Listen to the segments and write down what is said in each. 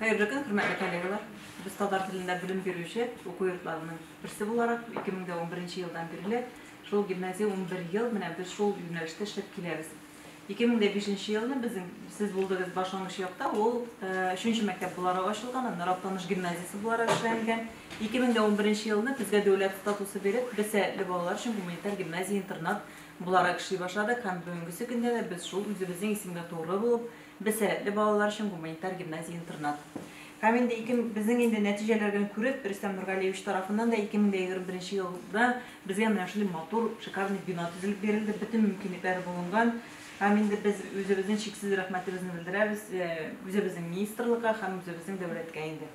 Хәерле көн, хөрмәтле коллегалар! Без татар телендә белем бирүче уку йортларының берсе буларак, 2011 елдан бирле шул гимназия унбер ел менә без шул юнәлештә эшләп киләбез. 2005 елны безнең сез булдыгыз башлангыч якта, ул өченче мәктәп буларак ачылган, аннары Актаныш гимназиясе буларак эшләнгән. 2011 елны безгә дәүләт статусы биреп, без сәләтле балалар өчен гуманитар гимназия-интернат буларак эшли башладык һәм бүгенгесе көндә дә без шул үзебезнең исемгә тугры булып, Без сәләтле балалар өчен гуманитар гимназия-интернат. Һәм инде ике, безнең инде нәтиҗәләрдән күреп, Рөстәм Нургалиевич тарафыннан да 2021 елда безгә менә шундый матур, шикарный бина төзелеп бирелде, бөтен мөмкинлекләр булынган. Һәм инде без үзебезнең чиксез рәхмәтебезне белдерәбез үзебезнең министрлыкка һәм үзебезнең дәүләткә инде.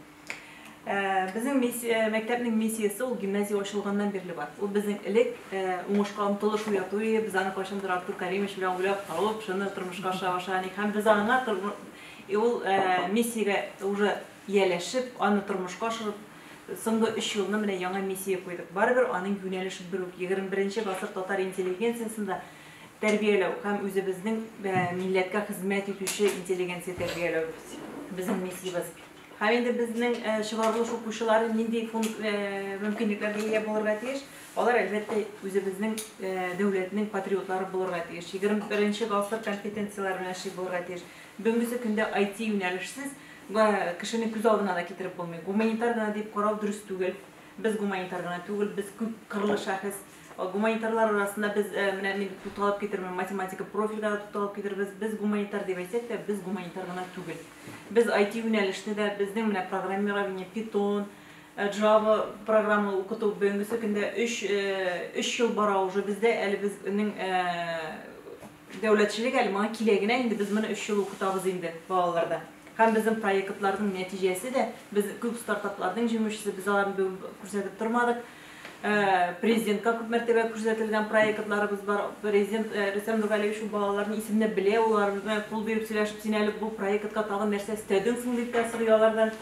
Э, безнең миссия, мәктәпнең миссиясе ул гимназия ачылганнан бирле бар. Ул безнең элек э, уңышка омтылыш уяту иде. Без аны кайчандыр Артур Каримович белән уйлап табып, шуны тормышка аша аша ник һәм без аңа э, ул миссиягә уже ияләшеп, аны тормышка ашырып соңгы 3 елны менә яңа миссия куйдык. Барыбер аның юнәлеше бер үк. 21 гасыр татар интеллигенциясендә тәрбияләү һәм үзебезнең милләткә хезмәт итүче интеллигенция тәрбияләү безнең миссиябез. Һәм инде безнең чыгарылыш укучылары нинди мөмкинлекләргә ия булырга тиеш? Алар, әлбәттә, үзебезнең дәүләтнең патриотлары булырга тиеш. 21 гасыр компетенцияләре белән эшли булырга тиеш. Бүгенге көндә IT юнәлешсез кешене күз алдына да китереп булмый. Гуманитар гына дип карау дөрес түгел. Без гуманитар гына түгел, без күп кырлы шәхес. Гуманитарлар арасында без, менә мин тукталып китермен, математика профильгә дә тукталып китербез. Без гуманитар дип әйтсәк тә, без гуманитар гына түгел. Без IT юнәлешне дә, безнең менә программирование, Python, Java программы укыту бүгенге көндә 3 3 ел бара уже бездә, әле безнең Дәүләтчелек әле моңа килә генә инде, без моны өч ел укытабыз инде балаларда. Һәм безнең проектларның нәтиҗәсе дә, без күп стартапларның җиңүчесе, без аларны бүген күрсәтеп тормадык. Президентка күп мәртәбә күрсәтелгән проектларыбыз бар. Президент Рөстәм Нургалиевич ул балаларны исемләп белә, ул алар белән кул биреп сөйләшеп, син әле бу проектка тагын нәрсә өстәдең соң, дип тә сорый алардан.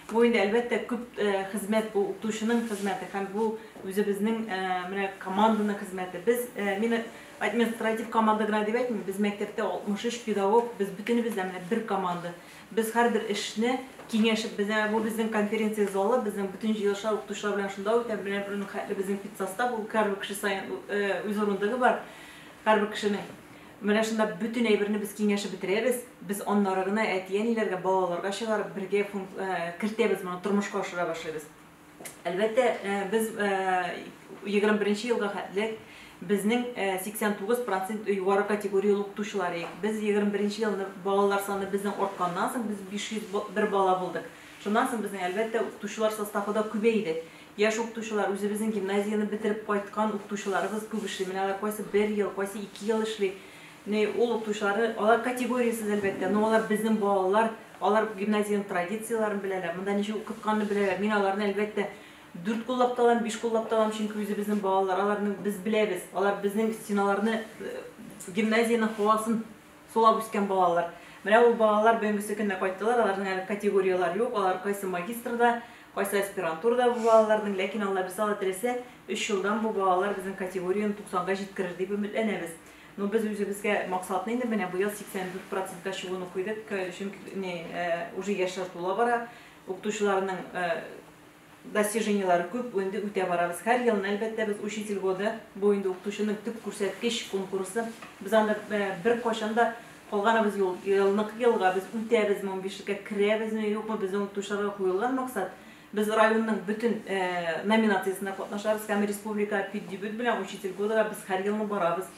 Бу инде, әлбәттә, күп хезмәт, бу укытучының хезмәте һәм бу үзебезнең менә команданың хезмәте. Без, мин Административ команда гына дип әйтмим, без мәктәптә 63 педагог, без бөтенебез дә менә бер команда. Без һәрбер эшне киңәшеп, безнең, бу безнең конференция залы, безнең бөтен җыелышлар укытучылар белән шунда үтә, менә бер хәтле безнең педсостав, ул һәрбер кеше саен үз урындыгы бар һәрбер кешенең. Менә шунда бөтен әйберне без киңәшеп бетерәбез, без аннары гына әти-әниләргә, балаларга чыгарып, бергә кертәбез, моны тормышка ашыра башлыйбыз. Әлбәттә, без егерме беренче елга хәтле безнең 89 процент югары категорияле укытучылар идек. Без егерме беренче елны балалар саны безнең артканнан соң, без 501 бала булдык. Шуннан соң безнең, әлбәттә, укытучылар составы да күбәйде. Яшь укытучылар, үзебезнең гимназияне бетереп кайткан укытучыларыбыз күп эшли. Менә алар кайсы бер ел, кайсы ике ел эшли. Ни, ул укытучылары, алар категориясез, әлбәттә, но алар безнең балалар, алар гимназиянең традицияләрен беләләр, монда ничек укытканны беләләр, мин аларны, әлбәттә, дүрт куллап та алам, биш куллап та алам, чөнки үзебезнең балалар, аларны без беләбез, алар безнең стеналарны, гимназиянең һавасын сулап үскән балалар. Менә ул балалар бүгенгесе көнне кайттылар, аларның әле категорияләре юк, алар кайсы магистрда, кайсы аспирантурада бу балаларның, ләкин Аллабирса, Алла теләсә, өч елдан бу балалар безнең категорияне туксанга җиткерер дип өметләнәбез. Ну без үзебезгә максатны инде менә быел 84 процентка чыгуны куйдык, чөнки не уже яшьләр тула бара, укытучыларның достижениеләре күп, инде үтә барабыз. Һәр елны әлбәттә без учитель годы, бу инде укытучының төп күрсәткеч конкурсы. Без анда бер кайчан да калганыбыз юк. Елныкы елга без үтәбезме, унбишлеккә керәбезме, юкмы, безнең укытучыларга куелган максат, Без районның бөтен номинациясендә катнашабыз һәм республика педдибют белән учитель годыга без һәр елны барабыз.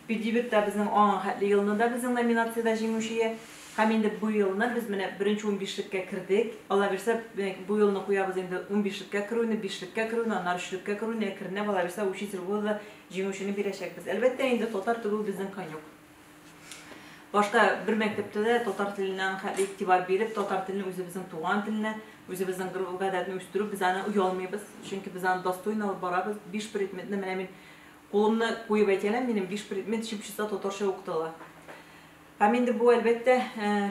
Педдибютта безнең аңа хәтле елны да безнең номинациядә җиңүчее һәм инде бу елны без менә беренче унбишлеккә кердек. Аллабирса, бу елны куябыз инде унбишлеккә керүне, бишлеккә керүне, аннары өчлеккә керүне, әкренләп, аллабирса, учитель года җиңүчене бирәчәкбез. Әлбәттә инде, татар тегү безнең конек. Башта бер мәктәптә дә татар теленә аныкай игътибар биреп, татар телен үзебезнең туган телне, үзебезнең гореф-гадәтне үстерү, без аны оялмыйбыз, чөнки без аны достойно алып барабыз. Биш предметны менә мин кулымны куеп әйтә алам, минем биш предмет чып-чыта татарча укытыла. Һәм инде бу, әлбәттә,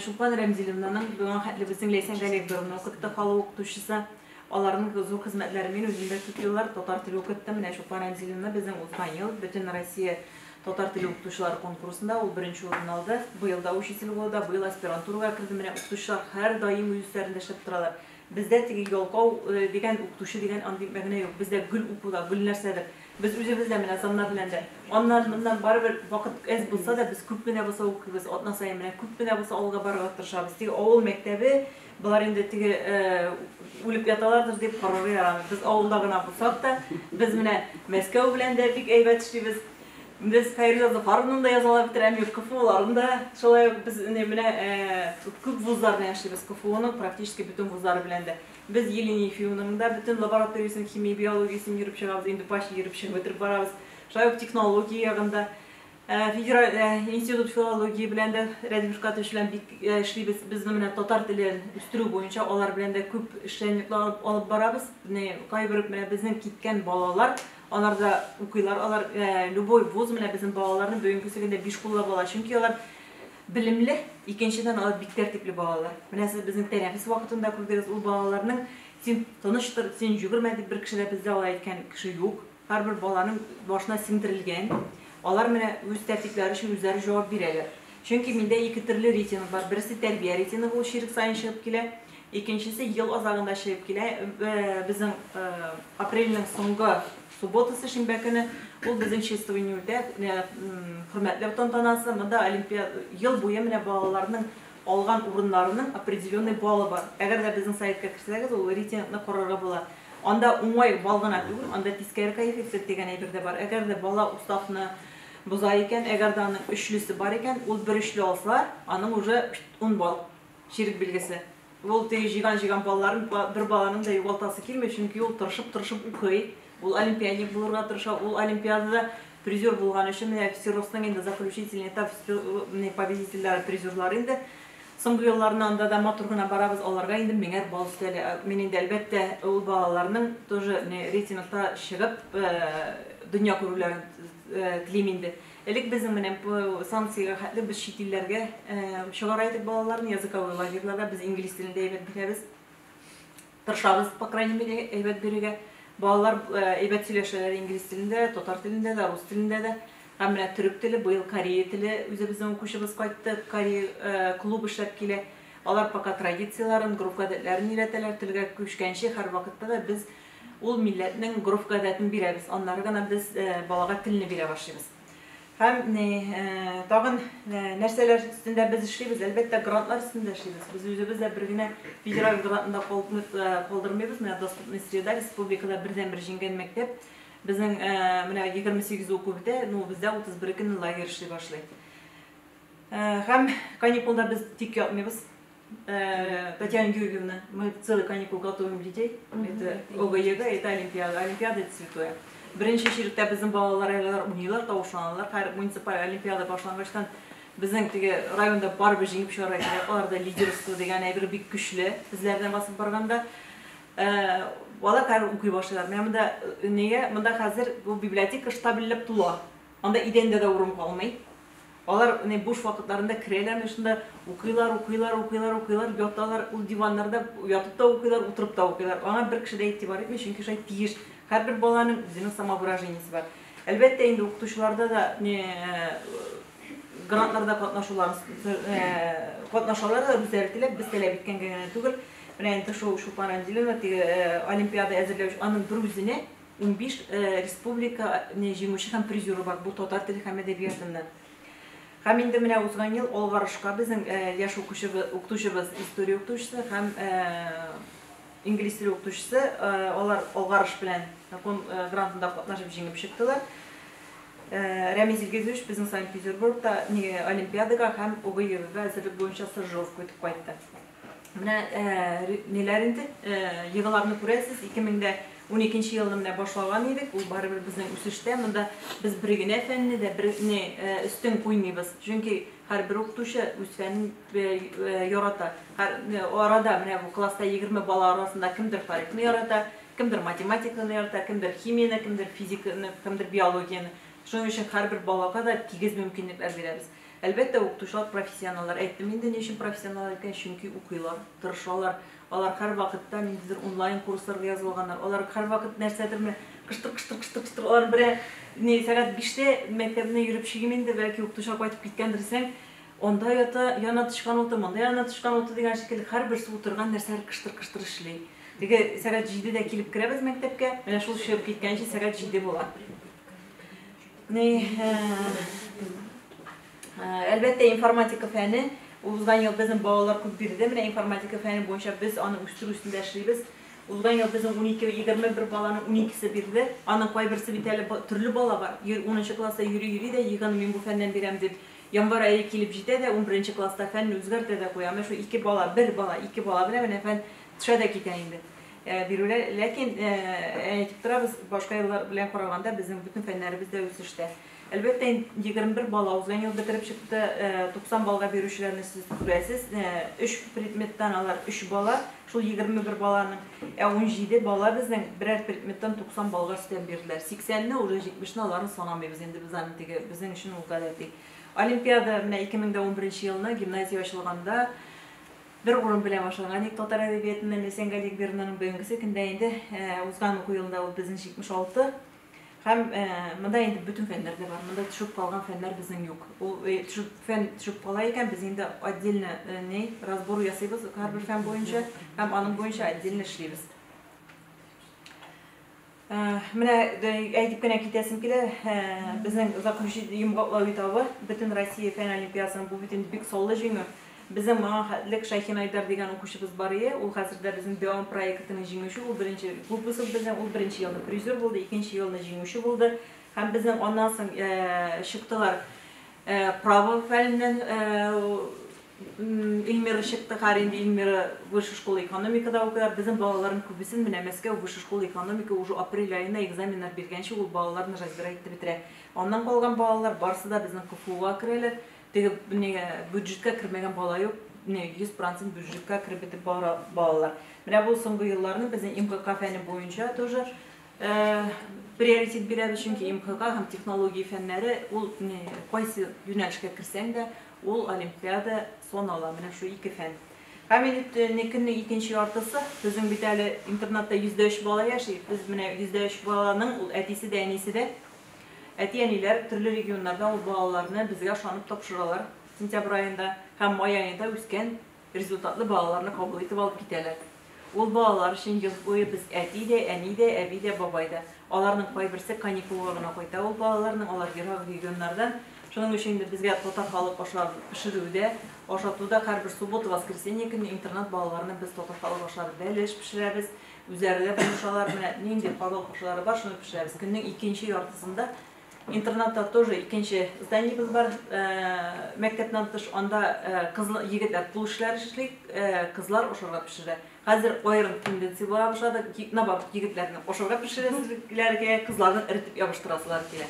Чулпан Рәмзиловнаның, безнең хәтле безнең Ләйсән Галиевна укытты, халык укытучысы. Аларның зур хезмәтләре Мин үзем дә күп еллар татар теле укыттым. Менә Чулпан Рәмзиловна безнең узган ел Бөтенроссия татар теле укытучылары конкурсында ул беренче урынны алды. Быел да учитель булуда, быел аспирантурага керде. Менә укытучылар һәрдаим үз өсләрендә эшләп торалар. Бездә теге ялкау дигән укытучы дигән андый мәгънә юк. Бездә гел укуда, гел нәрсәдер. Без үзебез дә менә саннар белән дә аннан-моннан барыбер вакыт әз булса да, без күп кенә булса укыйбыз. Атна саен менә күп кенә булса алга барырга тырышабыз. Теге авыл мәктәбе Болар инде теге үлеп яталардыр дип карарга ярамый. Без авылда гына булсак та, без менә Мәскәү белән дә бик әйбәт эшлибез. Без Фәйрүзә Зафаровнаны да язалар бит, Рәмир КФУларын да. Шулай ук без менә күп вузлар белән эшлибез. КФУның практически бөтен вузлары белән дә. Без Елена Ефимовнаның да бөтен лабораториясен, химия, биологиясен йөреп чыгабыз, инде почти йөреп чыгып бетереп барабыз. Шулай ук технология ягында Э, федераль э, институт филологии белән дә Рәдиф Шкатович белән бик э, эшлибез. Без менә татар теле үстерү буенча алар белән дә күп эшчәнлекләр алып барабыз. Менә кайбер менә безнең киткән балалар, алар да укыйлар, алар любой вуз менә безнең балаларны бүгенге көндә биш кулла бала, чөнки алар белемле, икенчедән алар бик тәртипле балалар. Менә сез безнең тәнәфес вакытында күрдегез, ул балаларның син тыныштыр, син җүгермә дип бер кеше дә бездә алай әйткән кеше юк. Һәрбер баланың башына сеңдерелгән. Алар менә үз тәртипләре өчен үзләре җавап бирәләр. Чөнки миндә ике төрле рейтинг бар. Берсе тәрбия рейтингы, ул чирек саен чыгып килә. Икенчесе ел азагында чыгып килә. Безнең апрельнең соңгы субботасы, шимбә көне, ул безнең чествование үтә, хөрмәтләү тантанасы. Монда ел буе менә балаларның алган урыннарының определенный баллы бар. Әгәр дә безнең сайтка керсәгез, ул рейтингны карарга була. Анда уңай бал гына түгел, анда тискәре коэффициент дигән әйбер дә бар. Әгәр дә бала уставны боза икән, әгәр дә аның өчлесе бар икән, ул бер өчле алса, аның уже ун бал, чирек билгесе. Ул теге җыйган-җыйган балларын бер баланың да югалтасы килми, чөнки ул тырышып-тырышып укый, ул олимпиадник булырга тырыша, ул олимпиадада призер булган өчен, менә ФСИРОСның инде заключительный этап, менә победительләр, призерлар инде. Соңгы елларны анда да матур гына барабыз, аларга инде меңәр балл өстәлә. Мин инде, әлбәттә, ул балаларның тоже не рейтингта чыгып, дөнья күрүләрен телим инде. Элек безнең менә бу санкциягә хәтле без чит илләргә чыгара идек балаларны, языковой лагерьларга, без инглиз телен дә әйбәт беләбез. Тырышабыз, по крайней мере, әйбәт бирергә. Балалар әйбәт сөйләшәләр инглиз телендә, татар телендә дә, рус телендә дә. Һәм менә төрек теле, быел корея теле үзебезнең укучыбыз кайтты, корея клуб эшләп килә. Алар пока традицияләрен, гореф-гадәтләрен өйрәтәләр, телгә күчкәнче һәрвакытта да без ул милләтнең гореф-гадәтен бирәбез, аннары гына без балага телне бирә башлыйбыз. Һәм ни, э, тагын э, нәрсәләр өстендә без эшлибез? Әлбәттә, грантлар өстендә эшлибез. Без үзебез дә бер генә федераль грантында калдырмыйбыз, э, калдырмыйбыз. Менә доступный среда республикада бердәнбер җиңгән мәктәп. Безнең э, менә 28 уку бетә, ну бездә 31 көнне лагерь эшли башлый. Э, һәм каникулда без тик ятмыйбыз. Э, Татьяна Георгиевна, мы целый каникул готовим детей. Это ОГЕГ, это Олимпиада. Олимпиада это святое. Беренче чиректә безнең балалар әләр уйныйлар, тавышланалар. Һәр муниципаль олимпиада башлангачтан безнең теге районда барыбы җиңеп чыгар иде. Аларда лидерство дигән әйбер бик көчле. Безләрдән басып барганда э, бала кар укый башлыйлар. Менә монда э, нигә монда хәзер бу библиотека штабельләп тула. Анда идәндә дә урын калмый. Алар менә буш вакытларында керәләрме шунда, укыйлар, укыйлар, укыйлар, укыйлар, яталар, ул диваннарда ятып та укыйлар, утырып та укыйлар. Аңа бер кеше дә игътибар итми, чөнки шулай тиеш. Һәрбер баланың үзенең самовыражениесе бар. Әлбәттә инде укытучыларда да не грантларда катнашулар, катнашалар да үзләре теләп, без таләп иткәнгә генә түгел. Менә инде шул Шупан Андилина теге олимпиада әзерләү, аның бер үзенә Унбиш республика җиңүче һәм призеры бар бу татар теле һәм әдәбиятыннан. Һәм инде менә узган ел алгарышка безнең яшь укытучыбыз, история укытучысы һәм инглиз теле укытучысы, алар алгарыш белән грантында катнашып җиңеп чыктылар. Рәмиз Илгизович безнең Санкт-Петербургта олимпиадага һәм ОГЭга әзерлек буенча стажировка үтеп кайтты. Менә ниләр инде, йогыларны күрәсез, 2012 елны менә башлаган идек, ул барыбер безнең үсештә, монда без бер генә фәнне дә бер не өстен куймыйбыз, чөнки һәрбер укытучы үз фәнен ярата. Арада менә бу класста 20 бала арасында кемдер тарихны ярата, кемдер математиканы ярата, кемдер химияне, кемдер физиканы, кемдер биологияне. Шуның өчен һәрбер балага да тигез мөмкинлекләр бирәбез. Әлбәттә, укытучылар профессионаллар. Әйттем инде, ни өчен профессионаллар икән, чөнки укыйлар, тырышалар. Алар һәрвакытта ниндидер онлайн курсларга язылганнар. Алар һәрвакыт нәрсәдер менә кыштыр-кыштыр-кыштыр-кыштыр, алар бер ә, ни, сәгать биштә мәктәбенә йөреп чыгыйм инде, бәлки укытучылар кайтып киткәндер дисәң, анда ята, яна тычкан уты, монда яна тычкан уты дигән шикелле, һәрберсе утырган нәрсәләр кыштыр-кыштыр эшли. Теге сәгать җидедә килеп керәбез мәктәпкә, менә шул чыгып киткәнче сәгать җиде була. Әлбәттә, информатика фәне узган ел безнең балалар күп бирде. Менә информатика фәне буенча без аны үстерү өстендә эшлибез. Узган ел безнең 12-21 баланың 12-се бирде. Аның кайберсе бит әле төрле бала бар. 10 класста йөри-йөри дә еган мин бу фәннән бирәм дип Январ ае килеп җитә дә, 11 класста фәнне үзгәртә дә куя. Менә шу ике бала, бер бала, ике бала белән менә фән төшә дә китә инде. Бирүләр, ләкин, әйтеп торабыз, башка еллар белән караганда безнең бөтен фәннәребез дә үсештә. Әлбәттә, егерме бер бала узган ел бетереп чыкты, туксан баллга бирүчеләрне сез күрәсез, өч предметтан алар өч бала, шул егерме бер баланың, ә унҗиде бала безнең берәр предметтан туксан баллга өстәп бирделәр. Сиксәнне, уже җитмешне, аларны санамыйбыз инде без аны, теге, безнең өчен ул гадәти. Олимпиада, менә ике мең дә унберенче елны гимназия ачылганда, Бер урын белән башланган ник татар әдәбиятыннан Ләйсән Галиәкберованың бүгенгесе көндә инде узган уку елында ул безнең 76 һәм монда инде бөтен фәннәр дә бар. Монда төшеп калган фәннәр безнең юк. Ул төшеп фән төшеп кала икән, без инде отдельно ни разбор ясыйбыз һәрбер фән буенча һәм аның буенча отдельно эшлибез. Менә әйтеп кенә китәсем килә, безнең заключи йомгаклау этабы, бөтен Россия фән олимпиадасының бу бит инде бик саллы җиңү. Безнең моңа хәтлек Шәйхин Айдар дигән укучыбыз бар ие, ул хәзер дә безнең Дәвам проектының җиңүче, ул беренче выпуск безнең, ул беренче елны призер булды, икенче елны җиңүче булды. Һәм безнең аннан соң чыктылар право фәненнән Ильмира чыкты, хәер инде Ильмира высшая школа экономикада укыйлар. Безнең балаларның күбесен менә Мәскәү высшая школа экономика уже апрель аена экзаменнар биргәнче ул балаларны разбирать итеп бетерә. Аннан калган балалар барысы да безнең КФУга керәләр. Теге менә бюджетка кермәгән бала юк. Менә 100% бюджетка кереп бетеп бара балалар. Менә бу соңгы елларны безнең МГК фәне буенча тоже Приоритет бирәбез, чөнки МХК һәм технология фәннәре, ул кайсы юнәлешкә керсәң дә, ул олимпиада санала, менә шул ике фән. Һәм инде көннең икенче яртысы, безнең бит әле интернатта 103 бала яши, без менә 103 баланың ул әтисе дә, әнисе дә. Әти-әниләр төрле регионнарда ул балаларны безгә ышанып тапшыралар сентябрь аенда һәм май аенда үскән Результатлы балаларны кабул итеп алып китәләр. Ул балалар өчен ел буе без әти дә, әни дә, әби дә, бабай да. Аларның кайберсе каникулга гына кайта ул балаларның, алар ерак регионнардан. Шуның өчен инде безгә татар халык аша пешерү дә, ашату да һәрбер суббота, воскресенье көнне интернат балаларына без татар халык аша бәлеш пешерәбез. Үзләре дә булышалар, менә нинди халык ашлары бар, шуны пешерәбез. Көннең икенче яртысында Интернатта тоже икенче зданиебез бар, мәктәптән тыш, анда кызлар, егетләр кул эшләре эшли, кызлар ашарга пешерә. Хәзер аерым тенденция була башлады, наоборот, егетләрне ашарга пешерәселәре килә, кызларны эритеп ябыштырасылары килә.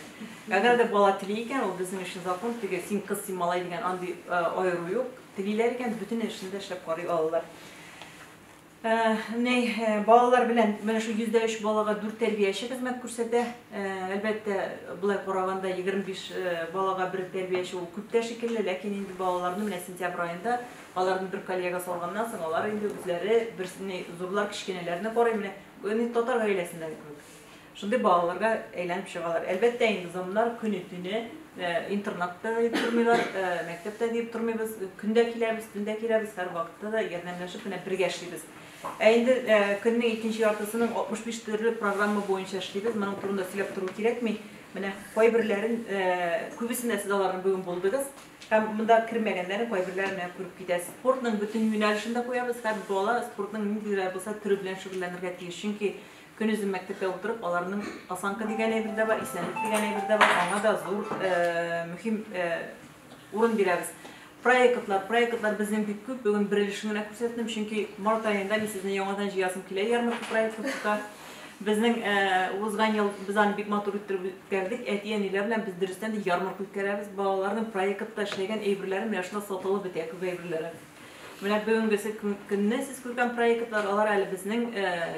Әгәр дә бала тели икән, ул безнең өчен закон, теге син кыз, син малай дигән андый аеру юк. Телиләр икән, бөтен эшне дә эшләп карый алалар. Менә балалар белән менә шул 103 балага 4 тәрбияче хезмәт күрсәтә. Әлбәттә, болай караганда 25 балага бер тәрбияче ул күп тә шикелле, ләкин инде балаларны менә сентябрь аенда аларны бер коллега салганнан соң, алар инде үзләре берсенә зурлар кечкенәләрне карый, менә татар гаиләсендәге кебек. Шундый балаларга әйләнеп чыгалар. Әлбәттә инде замнар көне-төне интернатта да дип тормыйлар, мәктәптә дип тормыйбыз, көндә киләбез, төндә киләбез, һәр вакытта да ярдәмләшеп менә бергә эшлибез. Ә инде көннең икенче яртысының 65 төрле программа буенча эшлибез. Моның турында сөйләп тору кирәкми. Менә кайберләрен, күбесендә сез аларны бүген булдыгыз. Һәм монда кермәгәннәрен кайберләрен менә күреп китәсез. Спортның бөтен юнәлешен дә куябыз. Һәр бала спортның ниндидер булса төре белән шөгыльләнергә тиеш. Чөнки Көнозын мәктәптә утырып, аларның осанка дигән әйбер дә бар, исәнлек дигән әйбер дә бар, аңа да зур мөһим урын бирәбез. Проектлар, проектлар безнең бик күп, бүген бер өлешен генә күрсәттем, чөнки март аенда мин сезне яңадан җыясым килә ярмарка проекты тота. Безнең узган ел без аны бик матур иттереп үткәрдек. Әти-әниләр белән без дөрестән дә ярмарка үткәрәбез. Балаларның проектта эшләгән әйберләре менә шунда сатылып бетә, күп әйберләре. Менә бүгенгесе көнне сез күргән проектлар, алар әле безнең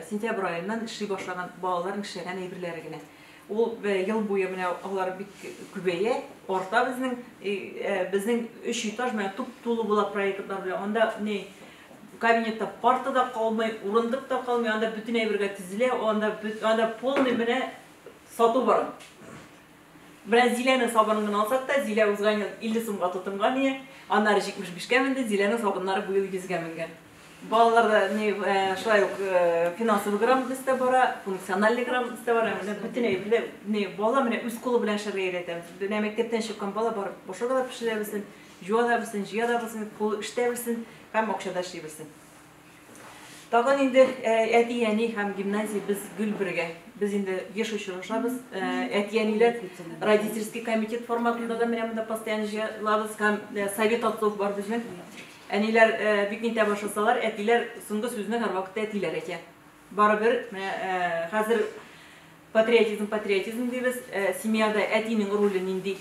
сентябрь аеннан эшли башлаган балаларның эшләгән әйберләре генә. Ул ел буе менә алар бик күбәя, арта безнең безнең өч этаж менә туп-тулы була проектлар белән. Анда ни кабинетта парта да калмый, урындык та калмый, анда бөтен әйбергә тезелә, анда анда полный менә сату бар. Белән Зиләнең сабынын гына алсак та, Зилә узган ел 50 сумга тотынган ие, аннары 75 кә менде, Зиләнең сабыннары бу ел 100 гә менгән. Балаларда ни шулай ук финансовый грамотность та бара, функциональный грамотность та бара, менә бөтен әйбердә ни бала менә үз кулы белән эшләргә өйрәтәбез. Менә мәктәптән чыккан бала бар, ашарга да пешерә белсен, җуа да белсен, җыя да белсен, кулы эштә белсен һәм акчада эшли белсен. Тагын инде әти-әни һәм гимназия без гел бергә. Без инде еш очрашабыз. Әти-әниләр родительский комитет форматында да менә монда постоянно җыелабыз һәм совет отцов бар безнең. Әниләр бик нитә башласалар, әтиләр соңгы сүзне һәрвакытта әтиләр әйтә. Барыбер, менә хәзер патриотизм, патриотизм дибез, семьяда әтинең роле нинди,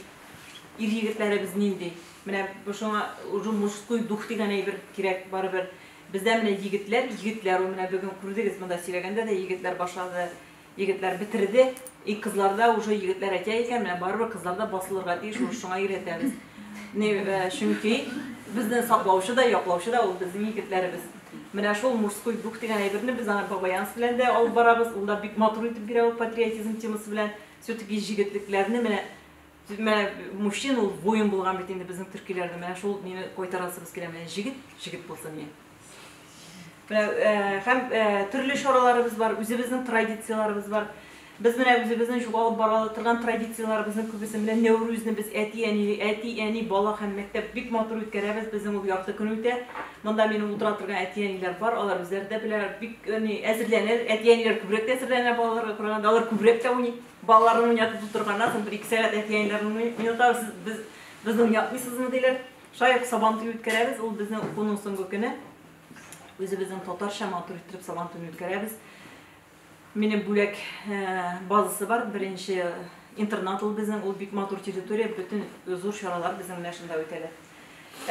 ир егетләребез нинди? Менә шуңа уже мужской дух дигән әйбер кирәк барыбер. Бездә менә егетләр, егетләр ул менә бүген күрдегез, монда сөйләгәндә дә егетләр башлады, егетләр бетерде. И кызларда уже егетләр әйтә икән, менә барыбер кызларда басылырга тиеш, ул шуңа өйрәтәбез. Чөнки безне саклаучы да, яклаучы да ул безнең егетләребез. Менә шул мужской дух дигән әйберне без аны Бабаянс белән дә алып барабыз, ул да бик матур итеп бирә ул патриотизм темасы белән. Всё-таки җегетлекләрне менә Менә мужчина ул воин булган бит инде безнең төркиләрдә. Менә шул мине кайтарасыбыз килә. Менә җегет, җегет булсын ие. Менә һәм төрле чараларыбыз бар, үзебезнең традицияләребез бар. Без менә үзебезнең шул алып бара торган традицияләребезнең күбесе, менә Нәүрүзне без әти-әниле, әти, әни, бала һәм мәктәп бик матур үткәрәбез, безнең ул ярты көн үтә. Монда минем утыра торган әти-әниләр бар, алар үзләре дә белә, бик ни, әзерләнә, әти-әниләр күбрәк тә әзерләнә балаларга караганда, алар күбрәк тә уйный. Балаларын уйнатып утырганнан соң, бер-ике сәгать әти-әниләрен уйнатабыз, сез, без, безне уйнатмыйсызмы, диләр. Шулай ук Сабантуй үткәрәбез, ул безнең укуның соңгы көне. Үзебезнең татарча матур иттереп Сабантуйны үткәрәбез. Минем бүләк базасы бар, беренче интернат ул безнең, ул бик матур территория, бөтен зур чаралар безнең менә шунда үтәлә.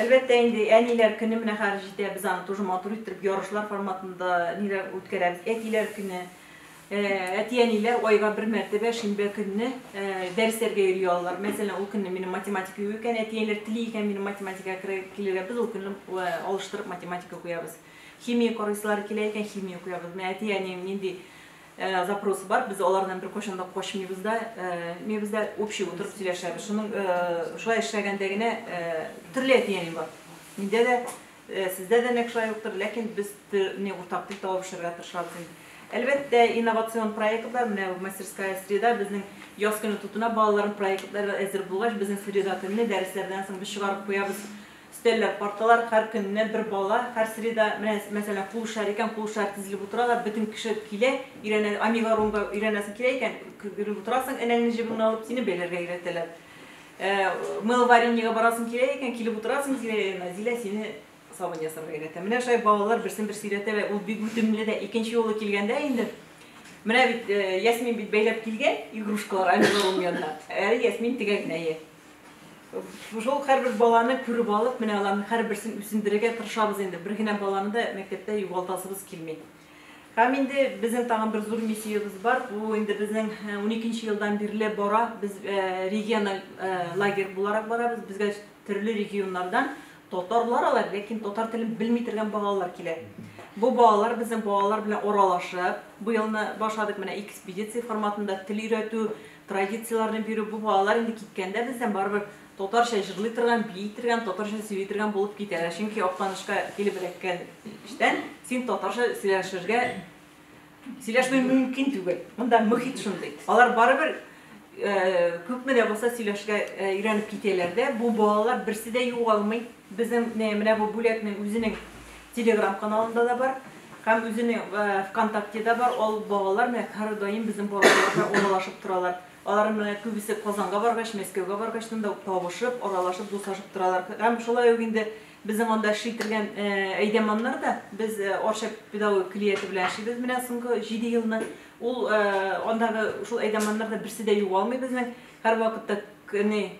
Әлбәттә инде әниләр көне менә хәзер җитә, без аны тоже матур иттереп ярышлар форматында ниләр үткәрәбез, әтиләр көне. Әти-әниләр айга бер мәртәбә шимбә көнне дәресләргә йөри алалар. Мәсәлән, ул көнне минем математика юк икән, әти-әниләр тели икән минем математикага килергә, без ул көнне алыштырып математика куябыз. Химия корыслары килә икән, химия укыябыз. Менә әти-әнием нинди запросы бар, без алардан беркайчан да качмыйбыз да, мебез дә общий утырып сөйләшәбез. Шуның шулай эшләгәндә генә төрле әти-әни бар. Миндә дә, сездә дә нәкъ шулай уктыр, ләкин без не уртак тел табып эшләргә тырышабыз инде. Әлбәттә, инновацион проектлар, менә мастерская среда безнең яз көне тотына балаларның проектлары әзер булгач, безнең среда көнне дәресләрдән соң без чыгарып куябыз. Өстәлләр, парталар, һәр көнне бер бала, һәр среда, менә, мәсәлән, куышар икән, куышар тезелеп утыралар, бөтен кеше килә, өйрәнә, амигарумга өйрәнәсең килә икән, кө-генеп утырасың, энәңне җебеңне алып, сине бәйләргә өйрәтәләр. Ә, мыловарениегә барасың килә икән, килеп утырасың Зилә янына, Зилә сине сабын ясарга өйрәтә. Менә шулай балалар берсен-берсе өйрәтәләр, ул бик үтемле дә. Икенче юлы килгәндә инде, менә бит, э, Ясмин бит бәйләп килгән игрушкалар амигарум янына, әле Ясмин тегә генә, йә. Шул һәрбер баланы күреп алып, менә аларның һәрберсен үсендерергә тырышабыз инде. Бер генә баланы да мәктәптә югалтасыбыз килми. Һәм инде безнең тагын бер зур миссиябез бар. Бу инде безнең 12 нче елдан бирле бара. Без региональ лагерь буларак барабыз. Безгә төрле регионнардан татарлар алар, ләкин татар телен белми торган балалар килә. Бу балалар безнең балалар белән аралашып, бу елны башладык менә экспедиция форматында тел өйрәтү, Традицияләрне бирү, бу балалар инде киткәндә бездән барыбер татарча җырлый торган, бии торган, татарча сөйли торган булып китәләр. Чөнки Актанышка килеп эләккәнчтән син татарча сөйләшергә, сөйләшми мөмкин түгел. Монда мөхит шундый. Алар барыбер күпме дә булса сөйләшергә өйрәнеп китәләр дә, бу балалар берсе дә югалмый. Безнең менә бу бүләкнең үзенең Телеграм каналында да бар һәм үзенең ВКонтактеда бар. Ул балалар менә һәрдаим безнең балалар белән уралашып торалар. Алар менә күбесе Казанга баргач, Мәскәүгә баргач монда ук табышып, аралашып, дуслашып торалар. Һәм шулай ук инде безнең анда эшли торган әйдәманнар да без Арча педагогик клияте белән эшлибез менә соңгы 7 елны. Ул андагы шул әйдәманнар да берсе дә югалмый безнең. Һәрвакытта не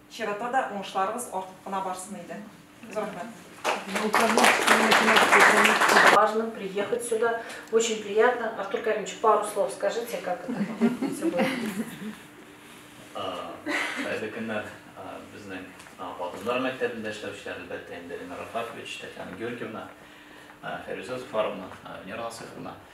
Чирата да уңышларыгыз артып кына барсын иде. Зур рәхмәт. Важно приехать сюда. Очень приятно. Артур Каримович, пару слов скажите, как это все будет. Хәерле көннәр. Безнең Батымдар мәктәбендә эшләүчеләр, әлбәттә, инде Ленар Рафакович, Татьяна Георгиевна, Фәрүзә Зуфаровна, Венера Насыйховна.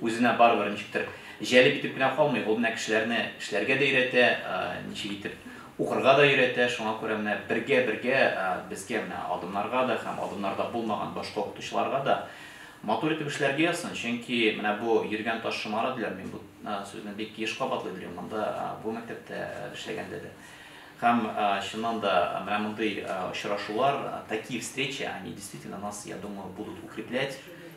Үзенә барыбер ничектер җәлеп итеп кенә калмый, ул менә кешеләрне эшләргә дә өйрәтә, ничек итеп укырга да өйрәтә, шуңа күрә менә бергә-бергә безгә менә адымнарга да һәм адымнарда булмаган башка укытучыларга да матур итеп эшләргә язсын, чөнки менә бу йөргән таш шомара диләр, мин бу сүзне бик еш кабатлый белим монда, бу мәктәптә эшләгәндә дә. Һәм чыннан да менә мондый очрашулар, такие встречи, они действительно нас, я думаю, будут укреплять,